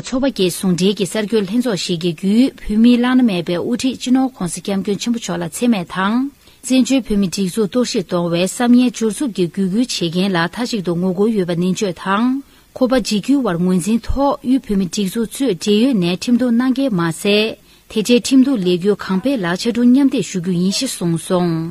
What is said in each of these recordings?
མཚོ་བ་རྒྱལ་ཟུང་འབྲེལ་གྱི་གསར་འགྱུར་ལྷན་ཚོགས་ཤིག་གི་བརྒྱུད་བོད་མིའི་བླ་ན་མེད་པའི་དབུ་ཁྲིད་སྤྱི་ནོར ྋགོང་ས ྋསྐྱབས་མགོན་ཆེན་པོ་མཆོག་ལ་འཚེ་མེད་དང། བཙན་བྱོལ་བོད་མི་སྒྲིག་འཛུགས་གཏོར་བཤིག་གཏོང་བའི་བསམ་ངན་སྦྱོར་རྩུབ་ཀྱི་བརྒྱུད་སྐུལ་བྱེད་མཁན་ལ་མཐའ་གཅིག་ཏུ་ངོ་རྒོལ་ཡོད་པ་ནན་བརྗོད་དང། ཁོ་པ་འཇིགས་སྐུལ་བར་ངོས་འཛིན་ཐོག་དབུས་བོད་མི་སྒྲིག་འཛུགས་གཙོས་འབྲེལ་ཡོད་ནས་ཁྲིམས་གཏུགས་གནང་གལ་མ་ཟད། དེ་འཕྲལ་ཁྲིམས་གཏུགས་ལས་འགུལ་གང་སྤེལ་ལ་ཕྱ་གྲུ་མཉམ་འདེགས་ཞུ་རྒྱུ་ཡིན་ཞེས་གསུངས་སོང།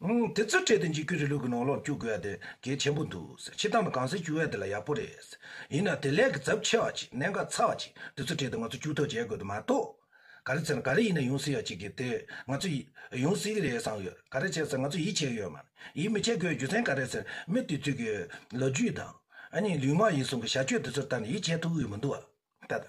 དེ་ཚོའི་གྲལ་དུ་འཇིགས་སྐུལ་རི་ལུགས་ཀྱི་ནང་ལོགས་བཅུག་དགོས་ཡ་དེ་གལ་ཆེན་པོ་འདུག་ཕྱི་ཐང་དུ་གང་སེ་བཅུག་ཡ་དེ་ལ་ཡག་པོ་རེད། ཡིན་ནའང་དེ་ལས་ཀྱི་རྫབ་ཆེ་བ་ཅིག་གནད་འགག་ཚ་བ་ཅིག་དེ་ཚོའི་གྲལ་དུ་ང་ཚོ་བཅུག་ཐོག་བྱེད་དགོས་དོན་མ་གཏོགས། ག་རེ་ཚེ་ན་ག་རེ་ཡིན་ན་ཡོང་སྲིད་ཡ་ཅིག་གིས་དེ་ང་ཚོ། ཡོང་སྲིད་ཀྱི་རེད་བསམ་ཡོད་ག་རེ་བྱས་ཚེ་ང་ཚོ་ཡིད་ཆེས་ཡོད་མ་ཡིད་མི་ཆེས་དགོས་རྒྱུ་མཚན་ག་རེ་ཟེར་མི་དུས་ཚོད་ཀྱི་ལོ་རྒྱུས་དང། གཉིས་ལུས་མ་ཡིན་གསུང་གི་བྱ་སྤྱོད་དེ་ཚོར་ད་ནི་ཡིད་ཆེས་ཐུབ་འོས་མི་འདུག་བ། ད་ལྟ།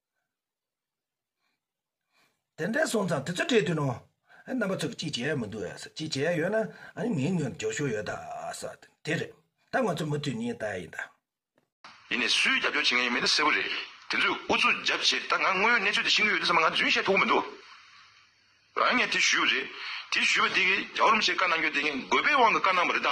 དེ་འདྲ་སོང་ཙང་དེ་ཚོ་བྲིས་དུས་ནོ། རྣམ་པ་ཚོ་གཅིག་བྱས་ཡོད་མི་འདུག་ཨེ་ཟེར་གཅིག་བྱས་ཡོད་ན་ངའི་ངོས་ནས་འགྱོགས་ཤོར་ཡོད་ཟེར་ཏེ་དེ་རེད། ད་ང་ཚོ་མུ་མཐུད་གཉིས་ལྟ་ཡིན་ད། ཡིན་ནས་སུས་རྒྱབ་སྐྱོར་བྱེད་མཁན་ཡོད་མེད་དེ་གསལ་པོ་རེད། དེ་ཚོས་ཨུ་ཚུགས་རྒྱབ་བྱས་ད་ང་དངོས་ཡོད་གནས་ཚུལ་དེ་ཤེས་ཀྱི་ཡོད་དེ་ཚང་མ་ང་རྫུན་བཤད་ཐུབ་གི་མི་འདུག་རང་ངས་དེ་ཞུས་པ་རེད། དེ་ཞུས་པ་དེ་གིས་རྒྱ་བོར་མི་ཆེ་བཀའ་གནང་རྒྱུ་དེ་ངས་དགོས་པའི་དབང་གིས་བཀའ་གནང་བ་རེད་ད།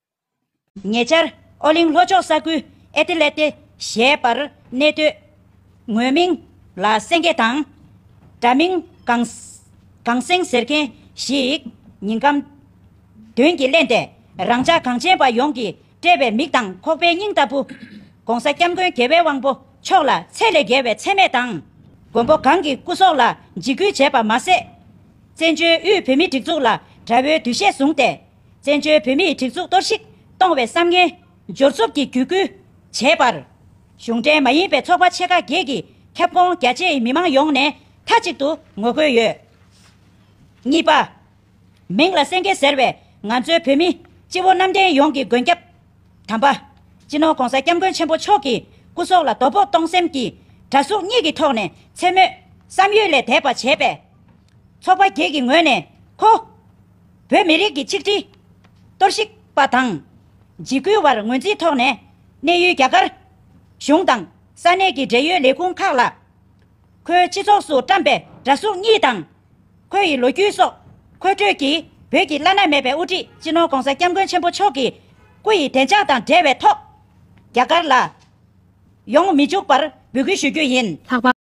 ཉེ་ཆར། ཨོ་གླིང་ལྷོ་ཕྱོགས་ས་ཁུལ་ཨེ་ཏི་ལེ་ཏེ་ཞེས་པར་གནས་སྡོད། ངོས་མིང་ལ་སེང་གེ་དང། དྲ་མིང་གངས། གངས་སེང་ཟེར་མཁན་ཞིག་ཉིན་སྐམ། དོན་གྱིས་གླེན་ཏེ་རང་ཅག་གངས་ཅན་པ་ཡོངས་ཀྱིས་དཔྲལ་བའི་མིག་དང་ཁོག་པའི་སྙིང་ལྟ་བུ། ྋགོང་ས ྋསྐྱབས་མགོན་དགེ་བའི་དབང་པོ་མཆོག་ལ་ཚད་ལས་བརྒལ་བའི་འཚེ་མེད་དང། མགོན་པོ་གང་གི་སྐུ་སྲོག་ལ་འཇིགས་སྐུལ་བྱས་པ་མ་ཟད། བཙན་བྱོལ་དབུས་བོད་མིའི་སྒྲིག་འཛུགས་ལ་དགྲ་བོའི་འདུ་ཤེས་བཟུང་སྟེ། བཙན་བྱོལ་བོད་མིའི་སྒྲིག་འཛུགས་གཏོར་བཤིག་གཏོང་བའི་བསམ་ངན། འབྱོར་རྩུབ་ཀྱི་བརྒྱུད་སྐུལ། བྱས་པར། གཞུང་འབྲེལ་མ་ཡིན་པའི་ཚོགས་པ་ཕྱེད་ཀ་བརྒྱད་ཀྱི་ཁྱབ་ཁོངས་རྒྱ་ཆེའི་མི་མང་ཡོངས་ནས་མཐའ་གཅིག་ཏུ་ངོ་རྒོལ་ཡོད། གཉིས་པ། མིང་ལ་སེངྒེ་ཟེར་བའི་ང་ཚོའི་བོད་མི་སྤྱི་བོ་གནམ་བསྟན་ཡོངས་ཀྱི་མགོན་སྐྱབས། དམ་པ། སྤྱི་ནོར་གོང་ས་སྐྱབས་མགོན་ཆེན་པོ་མཆོག་གི་སྐུ་སྲོག་ལ་དོ་ཕོག་གཏོང་སེམས་ཀྱིས་དགྲ་གཟུགས་གཉིས་ཀྱི་ཐོག་ནས་འཚེ་མོད་བསམ་ཡུལ་ལས་འདས་པ་བྱས་པས། ཚོགས་པ་བརྒྱད་ཀྱི་ངོས་ནས་ཁོ། བོད་མི་རིགས་ཀྱི་ཆིག་སྒྲིལ། གཏོར་བཤིག་པ་དང། འཇིགས་སྐུལ་བར་ངོས་འཛིན་ཐོག་ནས། གནས་ཡུལ་རྒྱ་གར། གཞུང་དང། ས་གནས་ཀྱི་འབྲེལ་ཡོད་ལས་ཁུངས་ཁག་ལ། ཁོའི་སྤྱི་ཚོགས་སུ་བཀྲམས་པའི་འདྲ་གཟུགས་གཉིས་དང། ཁོ་ཡི་ལོ་རྒྱུས་སོགས་མཁོ་སྤྲོད་ཀྱིས་བོད་ཀྱི་བླ་ན་མེད་པའི་དབུ་ཁྲིད་སྤྱི་ནོར ྋགོང་ས ྋསྐྱབས་མགོན་ཆེན་པོ་མཆོག་གི་སྐུ་ཡི་བདེ་འཇགས་དང་འབྲེལ་བའི་ཐོག་རྒྱ་གར་ལ་ཡོང་མི་འཇུག་པར་འབོད་སྐུལ་ཞུ་རྒྱུ་ཡིན། ལྷག་པར།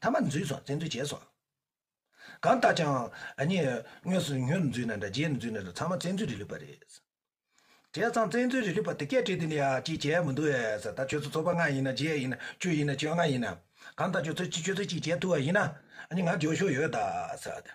ཐ་མ་འཛུལ་སོང་བཙན་འཛུལ་བྱས་སོང། གང་ལྟར་ཀྱང་གཉིས་དངོས་སུ་མྱུར་འཛུལ་ནས་འདྲ་རྗེས་འཛུལ་ནས་འདྲ་ཚང་མ་བཙན་འཛུལ་རིགས་ལུས་པ་རེད། བྱས་ཙང་བཙན་འཛུལ་རིགས་ལུས་པ་དེ་སྐད་དྲིས་དེ་ནི་ཡ་ཅིག་བྱས་མི་འདུག་ཨེས་ད་ཁྱོད་ཚོ་ཚོགས་པ་ལྔ་ཡིན་ན་བརྒྱད་ཡིན་ན་བཅུ་ཡིན་ན་བཅོ་ལྔ་ཡིན་ན། གང་ལྟར་ཁྱོད་ཚོ་གཅིག་ཁྱོད་ཚོ་གཅིག་བྱས་ཐུབ་པ་ཡིན་ན། གཉིས་ང་འཇོག་ཤོག་ཡོད་ད།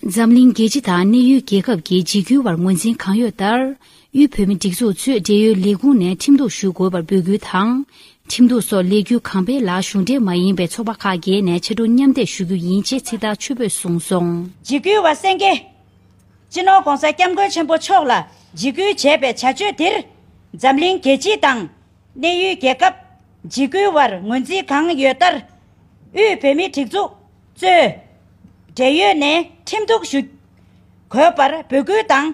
འཛམ་གླིང་རྒྱལ་སྤྱི་དང་གནས་ཡུལ་རྒྱལ་ཁབ་ཀྱི་འཇིགས་སྐུལ་བར་ངོས་འཛིན་གང་ཡོད་ལྟར། དབུས་བོད་མི་སྒྲིག་འཛུགས་གཙོས་འབྲེལ་ཡོད་ལས་ཁུངས་ནས་ཁྲིམས་གཏུགས་ཞུ་དགོས་པར་འབོད་སྐུལ་དང། ཁྲིམས་གཏུགས་སོགས་ལས་འགུལ་གང་སྤེལ་ལ་གཞུང་འབྲེལ་མ་ཡིན་པའི་ཚོགས་པ་ཁག་བརྒལ་ནས་ཕྱི་དྲོ་མཉམ་བསྡད་ཞུ་རྒྱུ་ཡིན་ཅེས་ཚིག་ཐག་ཆོད་པོས་གསུངས་སོང། འཇིགས་སྐུལ་བ་སེང་གེ། སྤྱི་ནོར ྋགོང་ས ྋསྐྱབས་མགོན་ཆེན་པོ་མཆོག་ལ་འཇིགས་སྐུལ་བྱས་པའི་བྱ་སྤྱོད་དེར། འཛམ་གླིང་རྒྱལ་སྤྱི་དང། གནས་ཡུལ་རྒྱལ་ཁབ། འཇིགས་སྐུལ་བར་ངོས་འཛིན་གང་ཡོད་ལྟར། དབུས་བོད་མི་སྒྲིག་འཛུགས། གཙོས། འབྲེལ་ཡོད་ནས་ཁྲིམས་གཏུག་ཞུ་དགོས་པར་འབོད་སྐུལ་དང།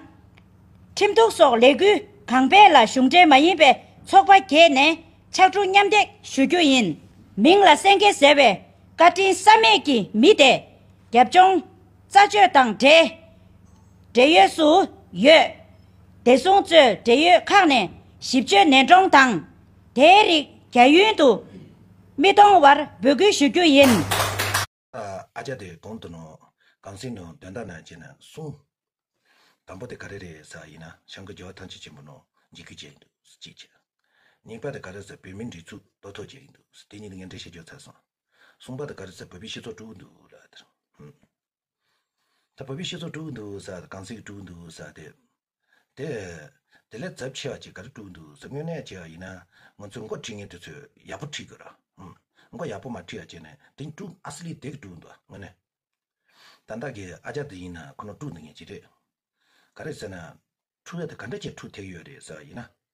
ཁྲིམས་གཏུག་སོགས་ལས་འགུལ་གང་སྤེལ་ལ་གཞུང་འབྲེལ་མ་ཡིན་པའི་ཚོགས་པ་བརྒྱད་ནས་ཕྱག་གྲུ་མཉམ་འདེགས་ཞུ་རྒྱུ་ཡིན། མིང་ལ་སེང་གེ་ཟེར་བའི་བཀའ་དྲིན་བསམ་མེད་ཀྱི་མི་དེ་རྒྱབ་ལྗོངས་རྩ་གཅོད་དང་འབྲེལ་འབྲེལ་ཡོད་སུ་ཡོད། བདེ་སྲུང་གཙོས་འབྲེལ་ཡོད་ཁག་ནས་ཞིབ་དཔྱོད་ནན་དཀྲོང་དང། དེའི་རིགས་རྒྱ་ཡུན་དུ་མི་གཏོང་བར་འབོད་སྐུལ་ཞུ་རྒྱུ་ཡིན། ཨ་ཅག་དེ་གང་དུ་ནོ། གངས་སེང་ནོ་འདོན་ད་ན་བྱས་ན་གསུངས། དང་པོ་དེ་ག་རེ་རེད་ས་ཡིན་ན་ཤང་གི་རྒྱལ་བ་ཐང་ཆེན་ཆེན་པོ་ནོ་འཇིགས་རྒྱུ་བྱས་འདུག་གཅིག་བྱས། གཉིས་པ་དེ་ག་རེ་ས་བོད་མི་འདྲི་ཚུགས་རྡོ་ཐོག་བྱས་འདུག་དེ་གཉིས་དེ་ངས་འདྲི་ཤེས་རྒྱུ་ཚར་སོང། གསུངས་པ་དེ་ག་རེ་ས་བོད་པའི་སྤྱི་ཚོགས་དཀྲུགས་འདུག་ལ་དེར། ད་བོད་པའི་སྤྱི་ཚོགས་དཀྲུགས་འདུག་ས་གངས་སེང་དཀྲུགས་འདུག་ས་དེ། དེ། དེ་ལས་རྫབ་ཆེ་བ་གཅིག་ག་རེ་དཀྲུགས་འདུག་ཟེར་སྨྱོ་ནད་ཆེ་བ་ཡིན་ན་ང་ཚོས་མགོ་ཁྲིད་མཁན་དེ་ཚོས་ཡག་པོ་ཁྲིད་དགོས་ར། མགོ་ཡག་པོ་མ་ཁྲིད་བ་བྱས་ནས་དེ་དཀྲུགས་ཨ་སི་ལི་དེ་གི་དཀྲུགས་འདུག་དངོས་གནས། ད་བདག་གི་ཨ་ཅག་དེ་ཡིན་ན་ཁོ་ནོ་དཀྲུགས་འདུག་ངེས་ཅི་རེད། ག་རེ་ཟེར་ན། འཁྲུགས་ཡ་དེ་ག་འདྲ་ཆེ་འཁྲུགས་ཐེག་ཡོད་རེད་ཟེར་བ་ཡིན་ན།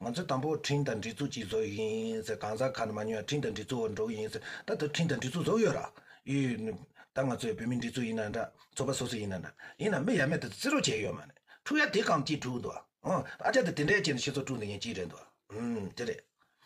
ང་ཚོས་དང་པོ་ཁྲིན་དང་འབྲི་ཚུགས་ཀྱིས་བཟོ་ཡི་ཡིན་ཟེར་གང་ཟག་ཁ་ན་མ་ཉོ་ཡང་ཁྲིན་དང་འབྲི་ཚུགས་འོག་འགྲོ་གི་ཡིན་ཟེར་ད་དུ་ཁྲིན་དང་འབྲི་ཚུགས་བཟོ་ཡོད་ར་ཡོད། ད་ང་ཚོས་བོད་མི་འབྲི་ཚུགས་ཡིན་ན་འདྲ་ཚོ་པ་སོ་སོ་ཡིན་ན་འདྲ་ཡིན་ན་མི་ཡ་མེད་དུ་བརྩི་རོགས་བྱས་ཡོད་མ་རེད་འཁྲུག་ཡ་དེ་གང་ཅིས་འཁྲུག་འདུག་ཨ་ཅག་དེ་དེ་འདྲའི་ཅན་ཤི་ཚོ་འཁྲུག་འདི་ཡིན་ཅིས་རེད་འདུག་ཨ་འདི་རེད།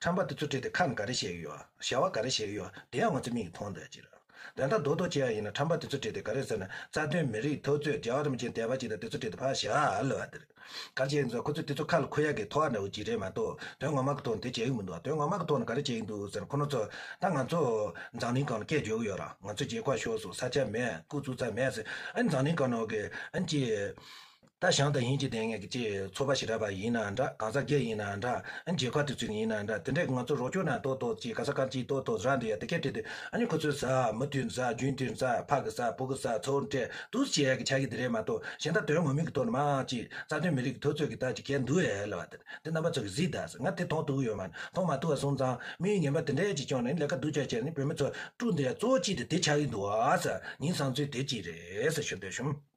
ཁྲམ་པ་དེ་ཚོ་བྲིས་ཏེ་ཁ་ནས་ག་རེ་བཤད་ཀྱི་ཡོད་བྱ་བ་ག་རེ་བྱེད་ཀྱི་ཡོད་དེ་ཡང་ང་ཚོས་མིག་གིས་མཐོང་འདོད་ཅིག་རེད། འདོན་ད་དོ་དོ་བྱེད་ཡ་ཡིན་ན་ཁྲམ་པ་དེ་ཚོ་བྲིས་ཏེ་ག་རེ་ཟེར་ན་རྩ་དོན་མི་རིགས་ཐོས་རྩོད་རྒྱ་གར་རམ་ཅིང་དད་པ་ཅིག་དང་དེ་ཚོ་བྲིས་ཏེ་ཕ་བྱ་ལོས་བ་དེ་རེད། ག་རེ་བྱེད་ཡིན་ཟེར་ན་ཁོ་ཚོས་དེ་ཚོ་ཁ་ལ་ཁུར་ཡ་གི་ཐོག་འདྲ་བོ་ཅིག་རེད་མ་གཏོགས་དོན་ངོ་མ་གི་ཐོག་ནས་དེ་བྱེད་ཀྱི་མི་འདུག་ཨ་དོན་ངོ་མ་གི་ཐོག་ནས་ག་རེ་བྱེད་ཀྱི་འདུག་ཟེར་ན་ཁོ་ནོར་ཚོ་ད་ང་ཚོ་འཛམ་གླིང་གང་ན་སྐད་བརྗོད་ཀྱི་ཡོད་ར་ང་ཚོ་རྗེས་ཁོག་ཤོར་སོང་ས་ཆ་མེད་སྐུ་གཟུགས་ཙམ་མེད་ཟེར་ཨ་ནི་འཛམ་གླིང་གང་ན་འོ་གི་ཨ་ནི་ཅི། ད་ཞང་དང་ཡིན་གྱི་བསྡད་ངེས་ཀྱི་ཅེས་ཚོ་པ་ཞིག་གྲགས་པ་ཡིན་ན་འདྲ་གང་ཟག་བརྒྱད་ཡིན་ན་འདྲ་མཇལ་ཁ་དུས་ཚིགས་ཡིན་ན་འདྲ་དེ་འདྲས་ཀྱི་ང་ཚོ་རོགས་སྐྱོར་ནང་དོག་དོག་ཅིག་ག་ས་གང་ཅིའི་དོག་དོག་རང་དུ་ཡ་དེ་ཁད་དེ་དུས་ཨ་ནི་ཁོ་ཚོའི་ཟ་མི་དུས་ཟ་རྒྱུན་དུས་ཟ་ཕག་གི་ཟ་བུ་གི་ཟ་ཚོ་འདྲས་དུས་སུ་བྱེད་ཡ་གི་བྱ་གི་དེ་རེད་མ་གཏོགས་གཞན་དག་དོན་ངོ་མིན་གྱི་དོག་ནི་མང་ཅིག་རྩ་དོན་མི་རིག་གི་དོག་ཚོད་ཀྱི་དག་ཅིག་གད་འདུག་ཨེ་ལ་བ་དེ་འདི་རྣམ་པ་ཚོ་གི་གཟིགས་དག་ང་དེ་མཐོང་ཐུག་ཡོད་མ་མཐོང་མ་ཐུག་ཨ་སོང་ཙང་མི་ཡུལ་ངན་པ་དེ་འདྲས་ཅིག་བཅོང་ནས་ལས་ཀ་སྡུག་ཅག་བྱས་ནས་བོད་མི་ཚོ་དཀྲུགས་འདི་ཡ་གཙོ་བོ་ཅིག་དེ་དེ་ཆགས་ཀྱི་འདུག་ཨ་ས་ཉིན་བཟང་ཚུལ་དེ་ཅིག་རེད་ས་ཞུ་འདོད་བྱུང།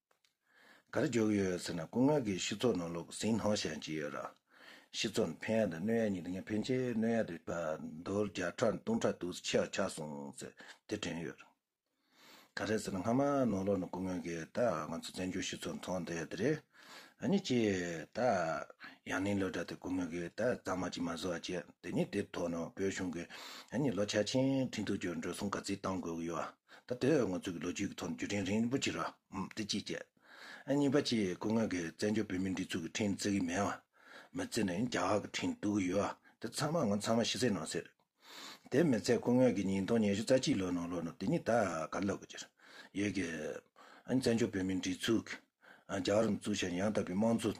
ག་རེ་འཇོག་གི་ཡོད་ཟེར་ན་སྐུ་ངལ་གྱིས་སྤྱི་ཚོགས་ནང་ལུག་ཟིང་སྣོག་བཤད་ཀྱི་ཡོད། སྤྱི་ཚོགས་ནང་ཕན་ཡག་དང་གནོད་ཡག་གཉིས་འདུག་ངས་ཕན་ཆེད་གནོད་ཡག་འདུག་ཟློ་བརྒྱ་ཕྲག་སྟོང་ཕྲག་འདུག་ཟེར་ཆེ་བ་ཆགས་སོང་ཟེར་དེ་དྲན་ཡོད། ག་རེ་ཟེར་ན་སྔ་མ་ནོར་ལོག་ནི་སྐུ་ངལ་གྱིས་ད་ང་ཚོ་བཙན་བྱོལ་སྤྱི་ཚོགས་ནང་ཐོག་འདེད་དེ་རེད། གཉིས་ཀྱིས་ད་ཡང་ནིང་ལོ་དྲ་དེ་སྐུ་ངལ་གྱིས་ད་གཙང་མ་གཅིག་མ་བཟོ་བ་བྱས་དེ་གཉིས་དེ་ཐོག་ནང་བོད་གཞུང་གིས་གཉིས་ལོ་ཆ་ཆེན་ཁྲིན་ཏུའུ་བཅོས་འགྲོ་སོང་ག་ཚིག་བཏང་དགོས་ཀྱི་ཡོད། ད་དེ་འོས་ངོ་ཚུགས་ཀྱི་ལོ་རྒྱུས་ཀྱི་ཐོག་ནས་རྒྱུ་རིང་རིང་རིན་པོ་ཆེ་རོ། དེ་གཅིག་བཅས། གཉིས་པ་ཆེས་དཀོན་མཁན་གྱི་བཙན་བྱོལ་བོད་མིའི་སྒྲིག་འཛུགས་ཀྱི་འཕྲིན་བརྩི་གི་མེད། མི་བརྩི་ནས་རྒྱ་གར་གྱི་འཕྲིན་བསྡུ་གི་ཡོད། དེ་ཚང་མ་ངོ་ཚང་མ་ཤི་ཚད་ནང་ཟེར། དེ་མི་ཚད་དཀོན་མཁན་གྱི་ཉིས་སྟོང་ཉེར་བཞི་རྩ་གཅིག་ལོའི་ནང་ལོ་ནོར་དེ་གཉིས་ད་གར་ལབ་གི། ཡོད་གི། བཙན་བྱོལ་བོད་མིའི་སྒྲིག་འཛུགས། རྒྱ་གར་འཛུགས་བྱས་ནས་ཡང་དག་པའི་དམངས་གཙོ།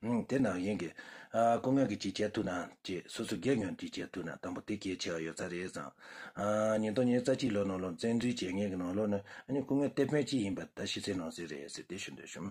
དེ་ནང་བཞིན་གྱི། སྐུ་དངོས་ཀྱིས་ཅིག་བྱས་ཐུབ་ན། ཅེས་སོ་སོ་སྒེར་ཉོན་ཅིག་བྱས་ཐུབ་ན་དང་པོ་དེ་གལ་ཆེ་བ་ཡོད་ས་རེད་བསམ། ཉིན་ཐོག་ཉིན་རྩ་གཅིག་ལོ་ནང་ལོ་བཙན་འཛུལ་བྱས་ངེས་ཀྱི་ནང་ལོ་ནི། སྐུ་དངོས་གཏེར་དཔོན་གཅིག་ཡིན་པ་ད་ཤི་ཚེ་ནང་སེ་རེད་ཟེར་ཏེ་ཞུ་འདོད་བྱུང།